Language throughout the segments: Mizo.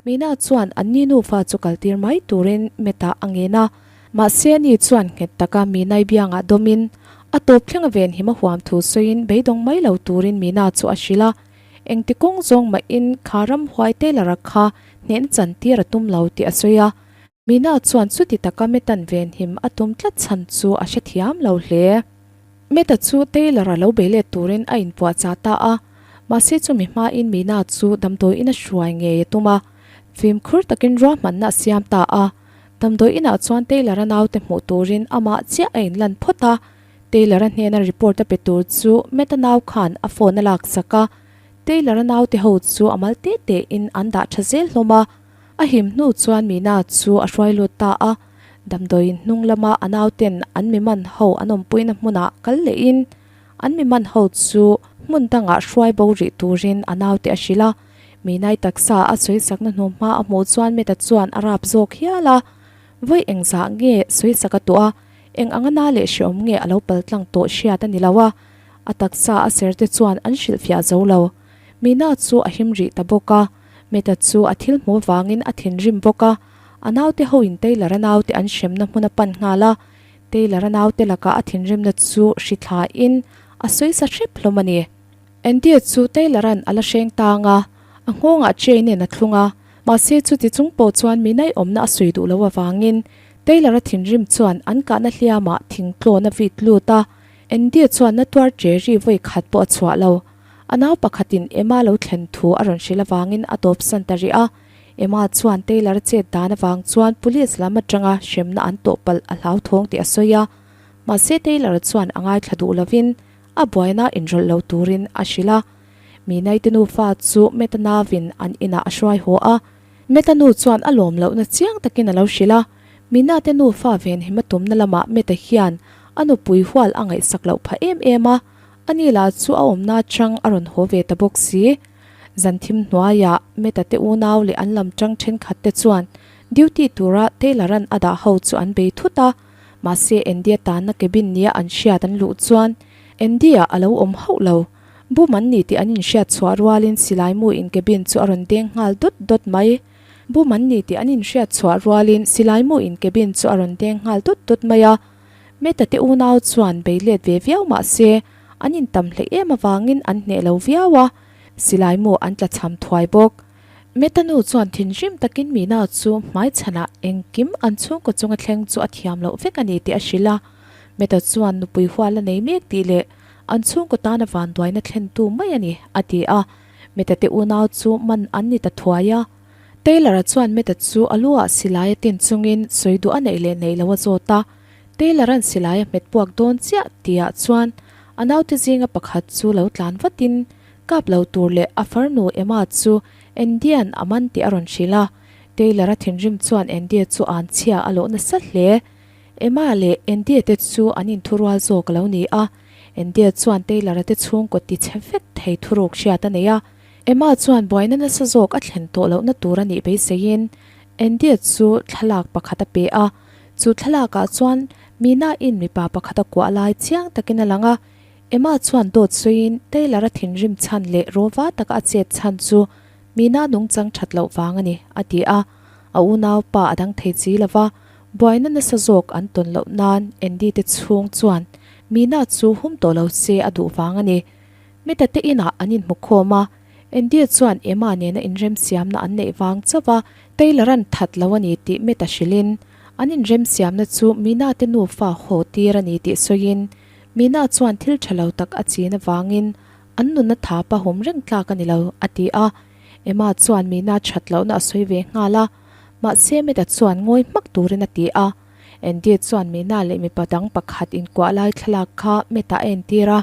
Mina chuan an ni nufa chu kal tir mai turin Meta a ngen a. Mahse a ni chuan nghet taka Minai biangah dawmin a tawp thleng a ven him a huam thu sawiin beidawng mai lo turin Mina chu a hrilh a. Engti kawng zawng mahin Kharam huai Taylor-a kha hnehnachan tir a tum lo tih a sawi a. Mina chuan chuti taka Meta-n venhim a tum tlat chhan chu a hrethiam lo hle. Meta chu Taylor-a lo bei let turin a inpuahchah ta a, mahse chumi hmain Mina chu damdawiin a hruai ngei a tum a, fimkhur takin ruahmanna a siam ta a. Damdawiinah chuan Taylor-a naute hmuh turin amah chiah a inlan phawt a. Taylor-a hnena report a pe tur chu Meta nau khan a phone a laksak a, Taylor-a naute ho chu a mal te tein an dah tha zel hlawm a. A him hnu chuan Meena chu a hruai lut ta a, damdawi hnung lama a naute'n an miman ho an awmpuina hmunah kal lehin an miman ho chu hmun dangah hruai bo rih turin a naute a hrilh a. Meenai taksa a sawisakna hnu hma a hmuh chuan Meta chuan a rap zawk hial a, Vawi engzah nge sawisak a tuah a, eng anga na leh hrehawm nge a lo pal tlang tawh hriat a ni lo a, a taksa a serte chuan an hrilh fiah zo lo. Meena chu a him rih ta bawk a. Meta chu a thil hmuh vangin a thinrim bawk a, a naute hoin Taylor-a naute an hremna hmuna pan nghal a, Taylor-a naute laka a thinrimna chu hri thlain a sawisa hrep hlawm a ni. Andy-a chu Taylor-a'n a la hreng tang a, a nghawngah Jane-i'n a thlung a, mahse chuti chung pawh chuan minai awmna a sawi duh loh avangin Taylor-a thinrim chuan an kahna hliamah thingtlawn a vit lut a, Andy-a chuan na tuar Jerry vawikhat pawh a chhuah lo. A nau pakhatin Emma lo thlen thu a rawn hrilh avangin a tawpsan ta rih a. Emma chuan Taylor chet dan avang chuan police lam atanga hremna an tawpalh a hlauthawng tih a sawi a. Mahse Taylor chuan a ngaithla duh lovin a buaina inrawlh lo turin a hrilh a. Mihnaite nufa chu Meta navin an inah a hruai haw a. Meta nu chuan a lawm lohna chiang takin a lo hrilh a. Mihnaite nufa ven hima tumna lamah Meta hian a nupui hual a ngaihsak loh phah em em a. Ani lah chu a awmna atang a rawn haw ve ta bawk si. Zan thim hnuaia Meta te unau leh an lamtang thenkhat te chuan duty tura Taylor-a'n a dah ho chu an bei thut a. Mahse Andy-a tanna cabin nia an hriat an luh chuan Andy-a a lo awm hauh lo. Bum an ni tih an inhriat chhuah rualin silai mu in cabin chu a rawn deng nghal dawt dawt mai. Bum an ni tih an inhriat chhuah rualin silai mu in cabin chu a rawn deng nghal dawt dawt mai a. Meta te unau chuan beilet ve viau mah se an in tam hle em avangin an hneh lo viau a, silai maw an tla chham thuai bawk. Meta nu chuan thinrim takin Mina chu hmaichhanah engkim an chhungkaw chunga thleng chu a thiam loh vek a ni tih a hrilh a, Meta chuan nupui hual a nei mek tih leh an chhungkaw tana vanduaina thlentu mai a ni a ti a, Meta te unau chu man an ni ta thuai a. Taylor-a chuan Matt-a chu a luah silaia tin chungin sawi duh a neih leh neih lo a zawt a, Taylor-a'n silaia hmet puak dawn chiah tihah chuan a naute zinga pakhat chu lo tlan vatin kap lo tur leh a farnu Emma chu Andy-a'n a man tih a rawn hrilh a, Taylor-a thinrim chuan Andy-a chu a'n chhia a loh nasa hle. Emma leh Andy-a te chu an in thu rual zawk a lo ni a, Andy-a chuan Taylor-a te chhungkaw ti chhe vek thei thu ruk hriat a nei a, Emma chuan buaina nasa zawk a thlen tawh lohna tur a nih beiseiin Andy-a chu thlalak pakhat a pe a. Chu thlalakah chuan Mina-in mipa pakhat a kuah lai chiang takin a lang a. Emma chuan dawt sawiin Taylor-a thinrim chhan leh rova taka a chet chhan chu Mina nung chang that loh vang a ni, a ti a. A unau pa a dang thei chi lova, buaina nasa zawk an tawn loh nan Andy-te chhung chuan Mina chu hum tawh lo che a duh vang a ni. Meta te inah an inhmukhawm a, Andy-a chuan Emma nena inremsiamna an neih vang chauh a, Taylor-a'n that lo a ni tih Meta hrilhin, an inremsiamna chu Mina te nufa haw tir a ni tih sawiin, Mina chuan thil tha lo tak a chin avangin, An nuna tha pahum reng tlak a ni lo, a ti a. Emma chuan Mina that lohna a sawi ve nghal a, mahse Meta chuan ngawi hmak turin a ti a. Andy-a chuan Mina leh mipa dang pakhat inkuah lai thlalak kha Meta-a entir a,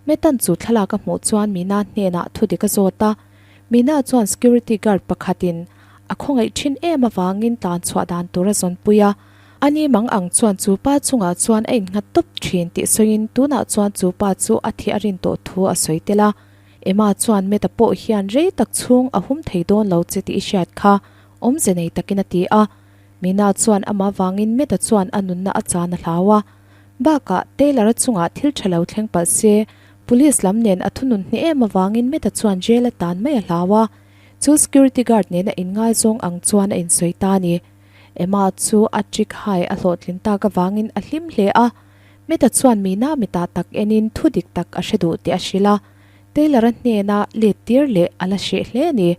Metan chu thlalak a hmuh chuan Mina hnenah thudik a zawt a, Mina chuan security guard pakhatin a khawngaih thin em avangin tlan chhuah dan tur a zawnpui a, ani mang ang chuan chu pa chungah chuan a inghat tawp thin tih sawiin tunah chuan chu pa chu a thih a rin tawh thu a sawi tel a, Ema chuan Meta pawh hian rei tak chhung a hum thei dawn lo che tih i hriat kha awmze nei takin a ti a, Mina chuan amah vangin Meta chuan a nunna a chan a hlau a. Bakah, Taylor-a chungah thil tha lo thleng palh se, police lam nen a thunun hne em avangin Matt-a chuan jail a tan mai a hlau a, chu security guard nen a inngaizawng ang chuan a insawi ta a ni. Emma chu a trick hai a hlawhtlin tak avangin a hlim hle a. Matt-a chuan mihna mi ta tak enin thu dik tak a hre duh tih a hrilh a, Taylor-a hnena let tir leh a la hreh hle a ni.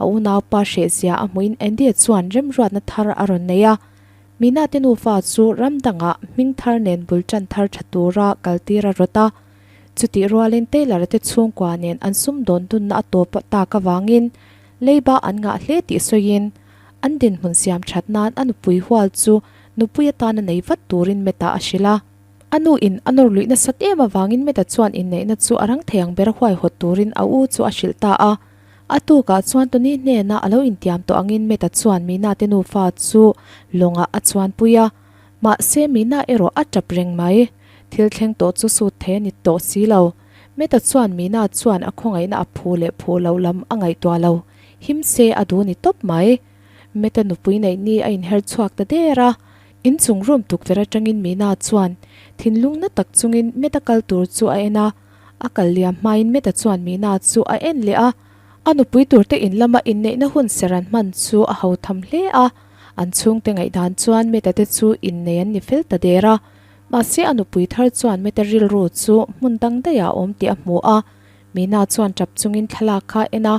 A unaupa hrehzia a hmuin Andy-a chuan remruatna thar a rawn nei a, Minate nufa chu ram danga hming thar nen bul tan thar tha tura kal tir a rawt a. Chutih rualin Taylor te chhungkua nen an sum dawn dunna a tawp tak avangin leiba an ngah hle tih sawiin an dinhmun siam that nan a nupui hual chu nupui atana nei vat turin Meta a hrilh a. A nu in a nawr luih nasat em avangin Meta chuan inneihna chu a rang thei ang ber huaihawt turin a u chu a hrilh ta a. A tukah chuan Tony hnena a lo intiam tawh angin Matt-a chuan Mihnahtê nufa chu lawngah a chuanpui a, mahse Mihna erawh a tap reng mai. Thil thleng tawh chu sut thei a ni tawh si lo. Matt-a chuan Mihna chuan a khawngaihna a phu leh phu loh lam a ngaihtuah lo. Him se a duh ni tawp mai. Matt-a nupui neih ni a inher chhuak ta der a. Inchung rum tukverh aṭangin Mihna chuan thinlung na tak chungin Matt-a kal tur chu a en a. A kal liam hmain Meta chuan Meena chu a en leh a, a nupui turte in lama inneihna hun ser an hman chu a ho tham hle a. An chhungte ngaih dan chuan Meta te chu innei an ni fel ta der a. Mahse a nupui thar chuan Meta rilru chu hmun dang daih ah awm tih a hmu a. Meena chuan tap chungin thlalak kha a en a,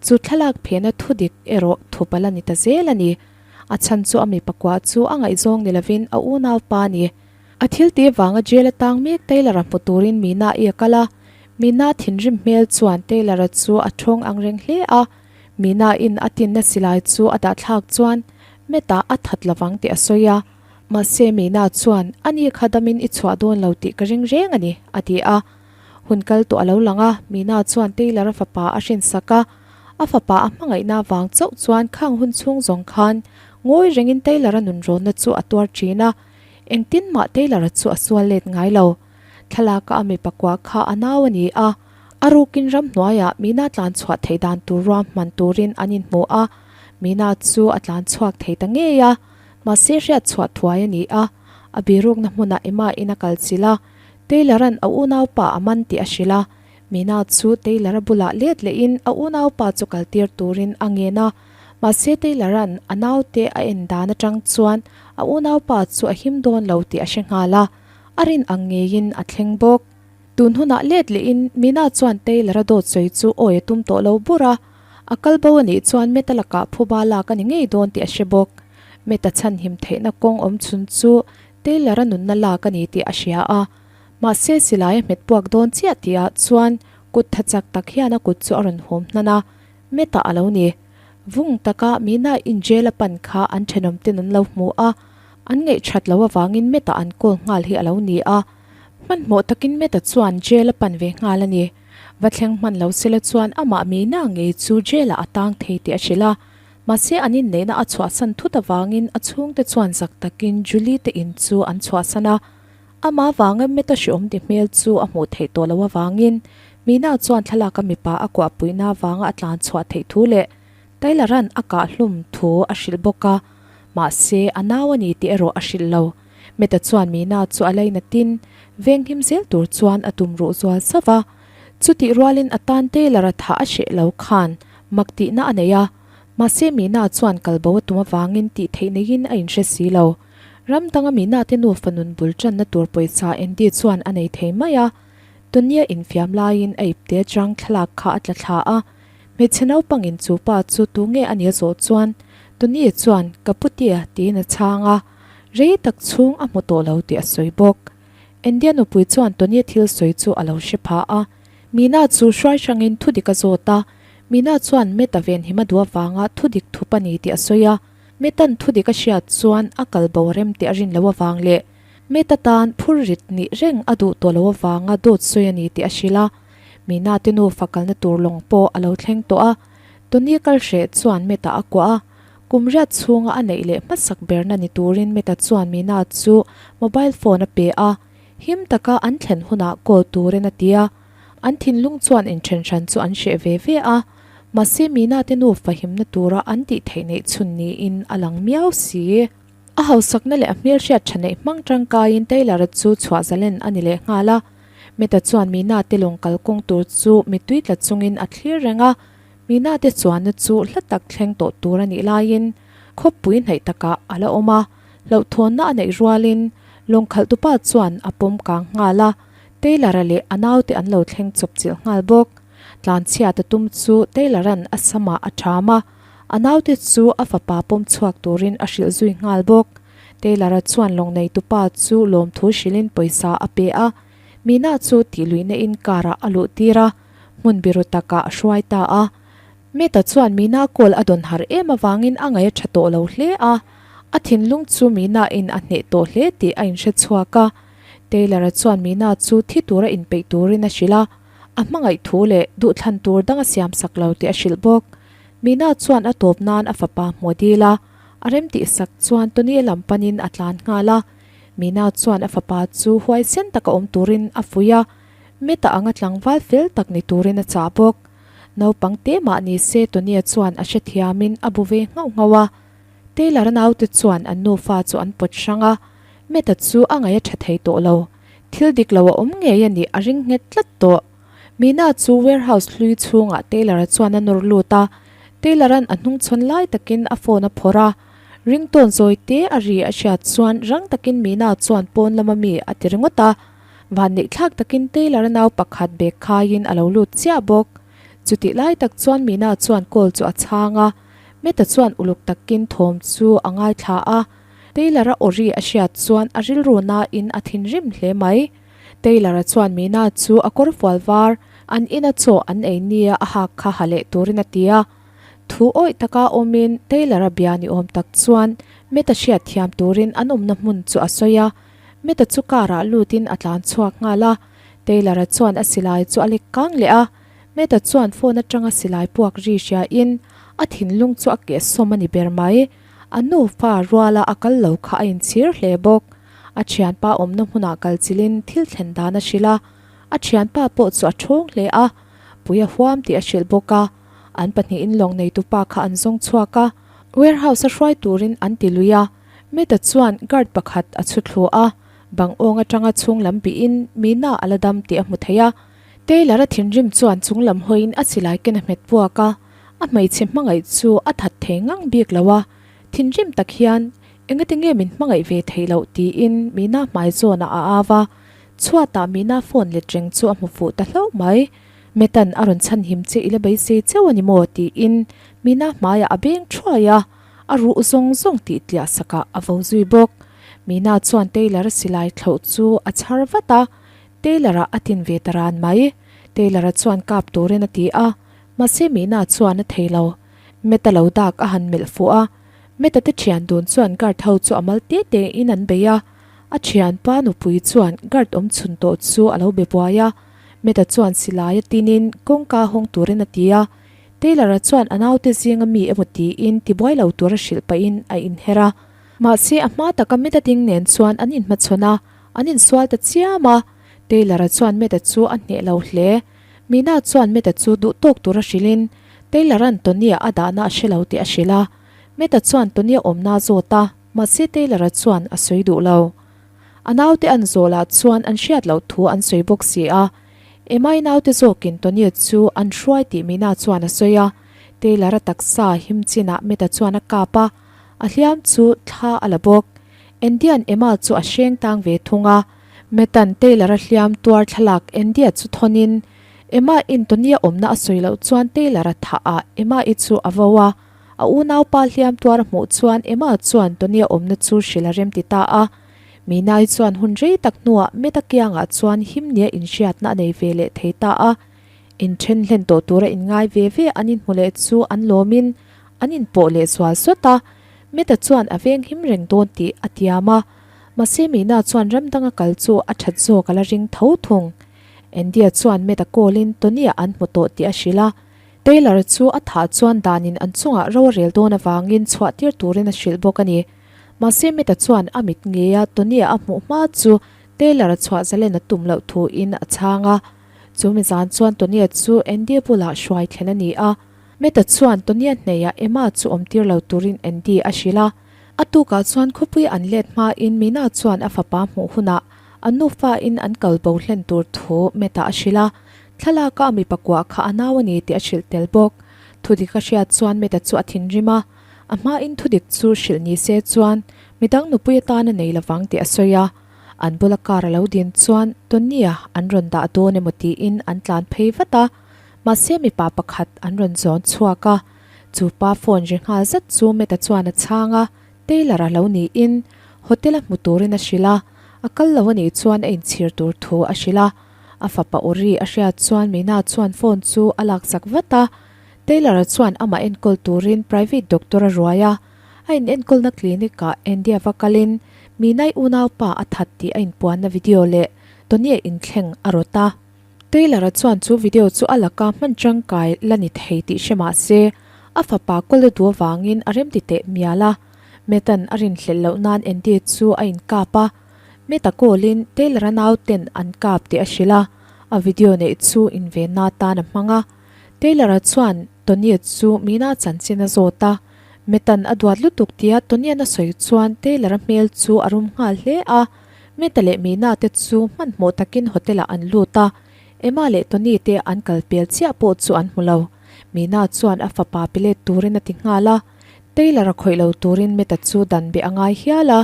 chu thlalak phehna thu dik erawh thu pal a ni ta zel a ni. A chhan chu a mi pakua chu a ngaihzawng ni lovin a unau pa a ni. A thil te vanga jail atang mek Taylor a hmu turin Meena i a kal a. Meena thinrim hmel chuan Taylor a chu a ṭhawng ang reng hle a. Meena in a tinna silai chu a dahthlak chuan Matt a a that lovang tih a sawi a. Mahse Meena chuan a ni kha damin i chhuah dawn lo tih ka ring reng a ni, a ti a. Hun kal tawh a lo lang a, Meena chuan Taylor a fapa a hrinsak a. A fapa a hmangaihna avang chauh chuan khang hun chhung zawng khan ngawi rengin Taylor a nunrawnna chu a tuar ṭhin a. Engtin mah Taylor-a chu a sual let ngai lo. Thlalaka a mi pakua kha a nau a ni a, a rukin ram hnuaiah Meena tlan chhuah theih dan tur ruam hman turin an inhmu a, Meena chu a tlan chhuak thei ta ngei a, mahse hriat chhuah thuai a ni a, a birukna hmunah Emma-in a kal chilh a, Taylor-a'n a unaupa a man tih a hrilh a, Meena chu Taylor-a bulah let lehin a unaupa chu kaltir turin a ngen a, Mahse Taylor-a'n a naute a en dan atang chuan a unaupa chu a him dawn lo tih a hre nghal a, a rin ang ngeiin a thleng bawk. Tun hunah let lehin Mina chuan Taylor-a dawt sawi chu awi a tum tawh lo bur a, a kal bo a nih chuan Matt-a lakah phuba lak a ni ngei dawn tih a hre bawk. Matt-a chhanhim theihna kawng awm chhun chu Taylor-a nunna lak a ni tih a hria a, mahse silai a hmet puak dawn chiah tihah chuan kut tha chak tak hian a kut chu a rawn hawm hnan a, Meta a lo ni. Vung taka Mina in jail a pan kha an thenawm ten an lo hmu a, an ngaih that loh avangin Meta an call nghal hi a lo ni a. Hmanhmawh takin Meta chuan jail a pan ve nghal a ni. Va thleng hman lo sela chuan amah Mina ngei chu jail ah a tang thei tih a hrilh a. Mahse an inneihna a chhuahsan thut avangin a chhungte chuan zak takin Julie te in chu an chhuahsan a. Amah vanga meta hre awm ti hmel chu a hmuh theih tawh loh avangin, Mina chuan thlalak a mipa a kuah puihna avanga a tlan chhuah theih thu leh Taylor-a'n a kah hlum thu a hrilh bawk a, mahse, a nau a ni tih erawh a hrilh lo. Meta chuan Mina chu a lei natin, veng him zel tur chuan a tum ruh zual zauh va. Chutih rualin a tan Taylor-a thah a hreh lo khan mak tihna a nei a, mahse, Mina chuan kal bo a tum avangin tih theih neiin a inhre si lo. Ram danga mihna te nufa nun bul tanna tur pawisa Andy chuan a nei thei mai a, Tony-a infiam laiin a ipte atang thlalak kha a tla thla a. Hmeichhe naupangin chu pa chu tu nge a nia zawh chuan Tony chuan ka pu tia tiin a chhang a, rei tak chhung a hmu tawh lo tih a sawi bawk. Andy-a nupui chuan Tony-a thil sawi chu a lo hre phah a. Mihna chu hruai hrangin thudik a zawt a, mihna chuan Matt-a venhim a duh avanga thudik thup a ni tih a sawi a. Metan thudik a hriat chuan a kal bo rem teh a rin lo avang leh Meta tan phur rit nih reng a duh tawh lo avanga dawt sawi a ni tih a hrilh a. Minate nufa kalna tur lawng pawh a lo thleng tawh a. Tony kal hreh chuan Meta a kuah a. Kum riat chhunga a neih leh hmasak berna ni turin Meta chuan Minate chu mobile phone a pe a. Him taka an thlen hunah call turin a ti a. An thinlung chuan inthen hran chu an hreh ve ve a, mahse Meena te nu fahimna tura an tih theih neih chhun niin a lang miau si. A hausakna leh a hmelhriat tha neih hmang tangkaiin Taylor-a chu chhuahzalen a ni leh nghal a. Matt-a chuan Meena te lawng kal kawng tur chu mitui tla chungin a thlir reng a, Meena te chuanna chu hla tak thleng tawh tur a nih laiin khawpui hnaih takah a la awm a, hlauhthawnna a neih rualin lawngkhalhtupa chuan a pawm kang nghal a, Taylor-a leh a naute an lo thleng chawp chilh nghal bawk. Tlanchhiat a tum chu Taylor-a'n a samah a ṭham a, a naute chu a fapa pawm chhuak turin a hrilh zui nghal bawk. Taylor-a chuan Lawngneihtu pa chu lawmthu hrilhin pawisa a pe a. Mina chu tih luih naihin car-ah a luh tir a, hmun biru takah a hruai ta a. Matt-a chuan Mina call a dawn harh em avangin a ngai a ṭha tawh lo hle a, a thinlung chu Mina-in a hneh tawh hle tih a inhre chhuak a. Taylor-a chuan Meena chu thi tura inpeih turin a hrilh a, a hmangaih thu leh duhthlan tur dang a siam sak lo tih a hrilh bawk. Meena chuan a tawp nan a fapa hmu dil a, a rem tih sak chuan Tony-a lam panin a tlan nghal a. Meena chuan a fapa chu huaisen taka awm turin a fuih a, Matt-a anga tlangval fel tak ni turin a chah bawk. Naupangte mah ni se Tony-a chuan a hrethiamin a bu ve nghauh nghauh a. Taylor naute chuan an nufa chu an pawt hrang a, Matt-a chu a ngai a tha thei tawh lo. Thil dik lo a awm ngei a ni, a ring nghet tlat tawh. Mina chu warehouse hlui chhungah Taylor-a chuan a nawr lut a, Taylor-a'n a hnung chhawn lai takin a phone a phawrh a. Ringtone zawi te a ri a hriat chuan rang takin Mina chuan pawn lama mi a ti ringawt a. Van neih thlak takin Taylor-a nau pakhat bag khaiin a lo lut chiah bawk. Chutih lai tak chuan Mina chuan call chu a chhang a. Meta chuan uluk takin thawm chu a ngaithla a, Taylor-a awri a hriat chuan a rilru nain a thinrim hle mai. Taylor-a chuan Mina chu a kawrfual var, an ina chaw an ei nia a hak kha ha leh turin a ti a. Thu awih taka awmin Taylor-a bia ni awm tak chuan Meta hriat thiam turin an awmna hmun chu a sawi a. Meta chu car-ah lutin a tlan chhuak nghal a, Taylor-a chuan a silai chu a lek kang leh a. Meta chuan phone atanga silai puak ri hria in a thinlung chu a keh sawm a ni ber mai. A nupa ruala a kal lo kha a inchhir hle bawk. A thianpa awmna hmunah kalchil in thil thlen dan a hrilh a. A thianpa pawh chu a thawng hle a, pui a huam tih a hrilh bawk a. An pahnih in lawng neitu pa kha an zawng chhuak a. Warehouse a hruai turin an ti lui a. Meta chuan guard pakhat a chhuthluah a, bang awng atanga chhunglam bihin mina a la dam tih a hmu thei a. Taylor-a thinrim chuan chunglam hawiin a silai ken a hmet puak a, a hmeichhe hmangaih chu a that thei ngang bik lo a, thinrim tak hian, Engati nge min hmangaih ve thei loh? tiin Mina hmai zawnah a au a, chhuatah Mina phone let reng chu a hmu fuh ta hlauh mai. Metan a rawn chhan him che ila beisei cheu a ni maw? tiin Mina hmaiah a beng thuai a, a ruh zawng zawng tih tliah sakah a vo zui bawk. Mina chuan Taylor-a silai thloh chu a chhar vat a, Taylor-a a tin ve ta ran mai. Taylor-a chuan kap turin a ti a, mahse mihnaah chuan a thei lo. Matt-a lo dak a han melh fuh a. Matt-a te thian dun chuan guard ho chu a mal te te in an bei a. A thianpa nupui chuan guard awm chhun tawh chu a lo be buai a. Matt-a chuan silai a tinin kawngka hawng turin a ti a. Taylor-a chuan a naute zinga mi emaw tiin ti buai lo tur a hrilh pahin a inher a. Mahse a hma taka Matt-a ding nen chuan an inhmachhawn a. An insual ta chiam a, Taylor-a chuan Matt-a chu a hneh lo hle. Mina chuan Matt-a chu duh tawk tur a hrilhin, Taylor-a'n Tony-a a dahna a hre lo tih a hrilh a. Matt-a chuan Tony-a awmna a zawt a, mahse Taylor-a chuan a sawi duh lo. A naute an zawlah chuan an hriat loh thu an sawi bawk si a, Emma-i naute zawkin Tony-a chu an hruai tih Mina chuan a sawi a. Taylor-a taksa him chinah Matt-a chuan a kap a. A hliam chu thla a la bawk. Endian Emma chu a hreng tang ve thung a. Metan Taylor-a hliam tuar thlalak Endia chu thawnin, Emma in Tony-a awmna a sawi loh chuan Taylor-a thah ah Emma-i chu a vau a. A unaupa hliam tuar a hmuh chuan Emma chuan Tony-a awmna chu hrilh a remti ta a. Mina-i chuan hun rei tak hnuah Meta kiangah chuan himnia inhriatna a nei ve leh thei ta a. In then hlen tawh tura in ngai ve ve an in hmu leh chu an lawm in an in pawh leh sual suat a, Meta chuan a veng him reng dawn tih a tiam a, mahse Meena chuan ram danga kal chu a that zawk a la ring tho thung. Andy-a chuan Meta call in Tony-a an hmu tawh tih a hrilh a, Taylor chu a thah chuan dan in an chungah ro a rel dawn avang in chhuah tir tur in a hrilh bawk a ni. Mahse Meta chuan a mit ngei a, Tony-a a hmuh hma chu Taylor-a chhuah zalen a tum loh thu in a chhang a, Chumi zan chuan Tonya chu Andy bulah hruai thlen a ni a. Matt-a chuan Tonya hneihah Emma chu awmtir lo turin Andy a hrilh a. A tukah chuan khawpui an let hmain Mina chuan a fapa hmuh hunah a nufain an kal bo hlen tur thu Matt-a a hrilh a. Thlalaka a mi pakua kha a nau a ni tih a hrilh tel bawk. Thudik a hriat chuan Matt-a chu a thinrim a. A hmain thudik chu hrilh ni se chuan midang nupui atan a nei lovang tih a sawi a. An bula car a lo din chuan Tony-a an rawn dah dawn emaw tiin an tlan phei vat a. Mahse mipa pakhat an rawn zawn chhuak a. Chu pa phone ri nghal zat chu Matt-a chuan a chhang a, Taylor a lo niin. Hotel a hmu turin a hrilh a. A kal lo a nih chuan a inchhir tur thu a hrilh a. A fapa Uri a hriat chuan Mina-a chuan phone chu a lakchak vat a. Taylor-a chuan amah enkawl turin private doctor a ruai a. A in enkawlna clinic ah Andy-a va kal in, Minai unaupa a that tih a in puanna video leh Tony-a in thleng a rawt a. Taylor-a chuan chu video chu a laka hman tangkai la ni thei tih hre mah se, a fapa kawle du avangin a remti teh mial a. Matt-an a rin hlelh loh nan Andy chu a in kap a. Matt-a call in Taylor-a nauten an kap tih a hrilh a, a video neih chu invenna atan a hmang a. Taylor-a chuan. Toniat chu Meena a chanchin a zawt a, Metan a duat lutuk tia Tonian a sawi chuan Taylor a hmel chu a rum nghal hle a. Meta leh Meena te chu hmanhmawh takin hotel ah an lut a, Emma leh Tony te an kal pial chiah pawh chu an hmu lo. Meena chuan a fapa pelet turin a ti nghal a, Taylor a khawih lo turin Meta chu dan beh a ngai hial a.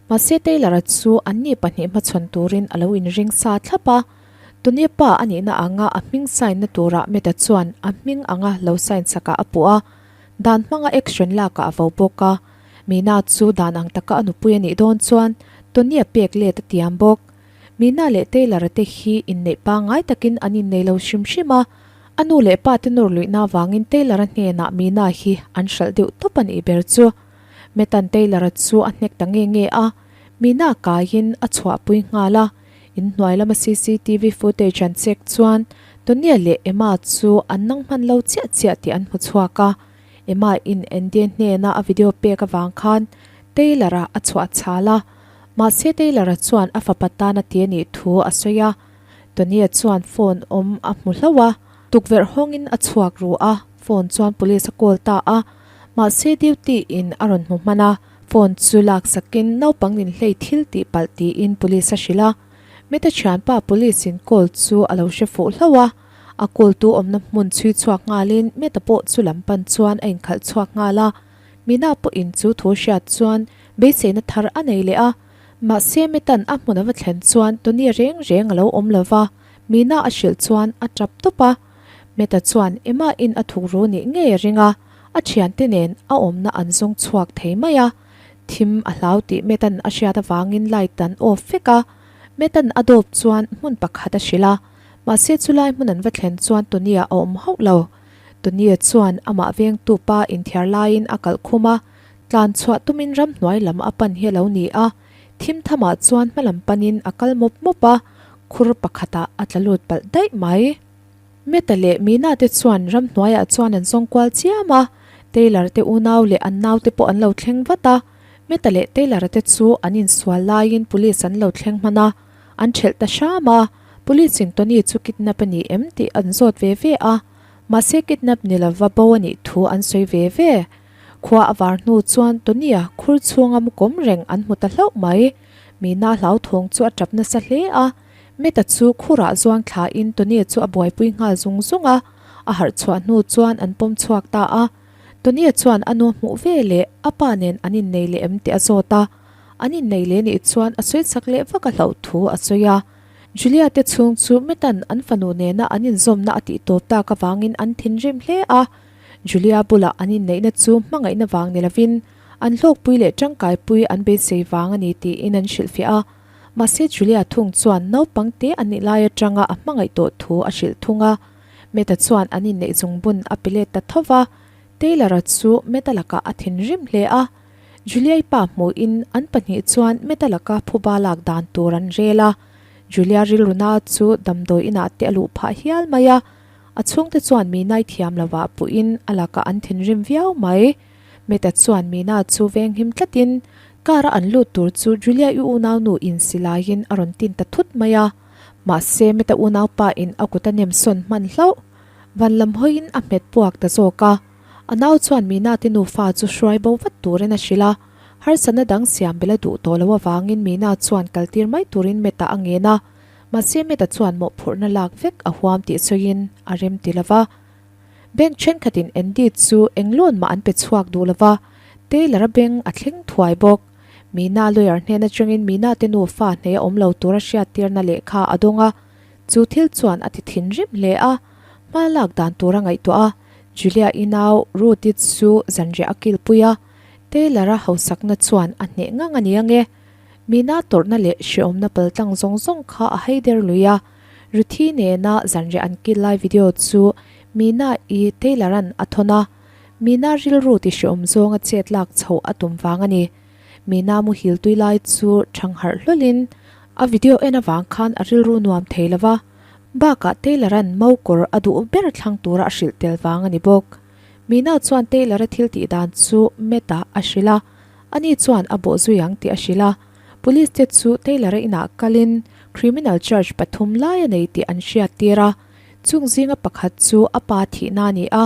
Mahse Taylor-a chu anni pahnih hmachhawn turin a lo inring sa thlap a. Tune pa a nihna anga a hming sign na tura Meta chuan a hming anga lo sign sakah a puh a, dan hmanga action lakah a vo bawk a. Mina chu dan ang taka a nupui a nih dawn chuan Tune-a pek let a tiam bawk. Mina leh Taylor te hi inneih pangai takin an innei lo hrim hrim a. A nu leh pa te nawr luihna avangin Taylor-a hnenah Mina hi an hralh deuh tawp a nih ber chu. Meta-n Taylor-a chu a hnek ta nge nge a, Mina kaiin a chhuahpui nghal a. In hnuai lama CCTV footage an check chuan Tonia leh Emma chu an nang hman lo chiah chiah tih an hmu chhuak a. Emma in Andy hnena a video pek avang khan Taylor a a chhuah chhal a. Mahse Taylor a chuan a fapa tan a ti a nih thu a sawi a. Tonia chuan phone awm a hmu hlauh a, tukverh hawngin a chhuak ruh a, phone chuan police a call ta a, mahse duty in a rawn hmu hman a. Phone chu lak sakin naupang in hlei thil tih palh tiin Police a hrilh a. Mita thianpa Police in call chu a lo hre fuh hlauh a. A call tu awmna hmun chhui chhuak ngalin Mita pawh chu lam pan chuan a inkhalh chhuak nghal a. Mina pawh in chu thu hriat chuan beiseina thar a nei leh a. Mahse Mita'n a hmun a va thlen chuan Tony-a reng reng a lo awm lova Mina a hrilh chuan a tap tawp a. Meta chuan Emma-in a thukru nih ngei a ring a, a thiante nen a awmna an zawng chhuak thei mai a. Thim a hlau tih Meta-n a hriat avangin light an off vek a. Meta-n a dawp chuan hmun pakhat a hrilh a, mahse chulai hmun an va thlen chuan Tonia a awm hauh lo. Tonia chuan amah vengtu pa inthiar laiin a kalh khum a, tlan chhuah tumin ramhnuai lam a pan hi a lo ni a. Thim thamah chuan hmalam panin a kal mawp mawp a, khur pakhatah a tla lut palh daih mai. Meta leh Meena te chuan ramhnuaiah chuan an zawng kual chiam a, Taylor te unau leh an naute pawh an lo thleng vat a. Meta leh Taylor te chu an insual laiin Police an lo thleng hman a, an ṭhelh ta hram a, Police in Tony chu kidnap a ni em tih an zawt ve ve a, mahse kidnap ni lova bo a nih thu an sawi ve ve. Khua a var hnu chuan Tony-a khur chhunga mu kawm reng an hmu ta hlauh mai. Mina hlauthawng chu a tap nasa hle a. Meta chu khurah zuang thla in Tony chu a buaipui nghal zung zung a. A harh chhuah hnu chuan an pawm chhuak ta a. Tony-a chuan a nu hmuh ve leh a pa nen an innei leh em tih a zawt a. An innei leh nih chuan a sawi chak leh vak a hlauh thu a sawi a. Julia te chhung chu Meta-n an fanu nena an inzawmna a tihtawp tak avangin an thinrim hle a. Julia bulah an inneihna chu hmangaihna vang ni lovin, an hlawkpui leh tangkaipui an beisei vang a ni tiin an hrilhfiah a. Mahse, Julia thung chuan naupangte an nih lai atanga a hmangaih tawh thu a hrilh thung a. Matt-a chuan an inneih chung bun a pi let ta thova. Taylor-a chu Matt-a lakah a thin rim hle a. Julia-i pa hmuhin an pahnih chuan Matt-a laka phuba lak dan tur an rel a. Julia rilru na chu damdawi inah te a luh phah hial mai a. A chhungte chuan Minai thiam lovah puiin a lakah an thinrim viau mai. Meta chuan Mina chu veng him tlatin car a an lut tur chu Julia i unaunu in si laiin a rawn tin ta thut mai a. Mahse, Meta unaupa in a kut a nem sawn hman hlauh. Van lam hawiin a hmet puak ta zawk a. A nau chuan Mina te nufa chu hruai bo vat turin a hrilh a. Harsatna dang siam bela duh tawh loh avangin Mina chuan kaltir mai turin Meta a ngen a. Mahse Meta chuan mawhphurhna lak vek a huam tih sawiin a rem ti lo va. Bank thenkhatin Andy chu eng lawn mah an pe chhuak duh lo va, Taylor-a beng a thleng thuai bawk. Mina lawyer hnen atangin Mina te nufa hnei a awm lo tur a hriattirna lehkha a dawng a, chu thil chuan a ti thinrim hle a, hma lak dan tur a ngaihtuah a. Julia i nau Ruth-i chu zanriah a kilpui a, Taylor-a hausakna chuan a hneh ngang a ni ang e. Mina tawrhna leh hreawmna pal tlang zawng zawng kha a hei der lui a. Ruthi nena zanriah an kil lai video chu Mina i Taylor-a'n a thawn a. Mina rilru ti hreawm zawnga chet lak chho a tum vang a ni. Mina muhil tui lai chu thang harh hlawlin a video en avang khan a rilru nuam thei lo va. Bakah Taylor-a'n mau kawr a duh ber thlang tura a hrilh tel vang a ni bawk. Mino chuan Taylor-a thil tih dan chu Matt-a a hrilh a, ani chuan a bawh zui ang tih a hrilh a. Police te chu Taylor-a inah kalin criminal charge pathum lai a nei tih an hriat tir a, chung zinga pakhat chu a pa thihna a ni a.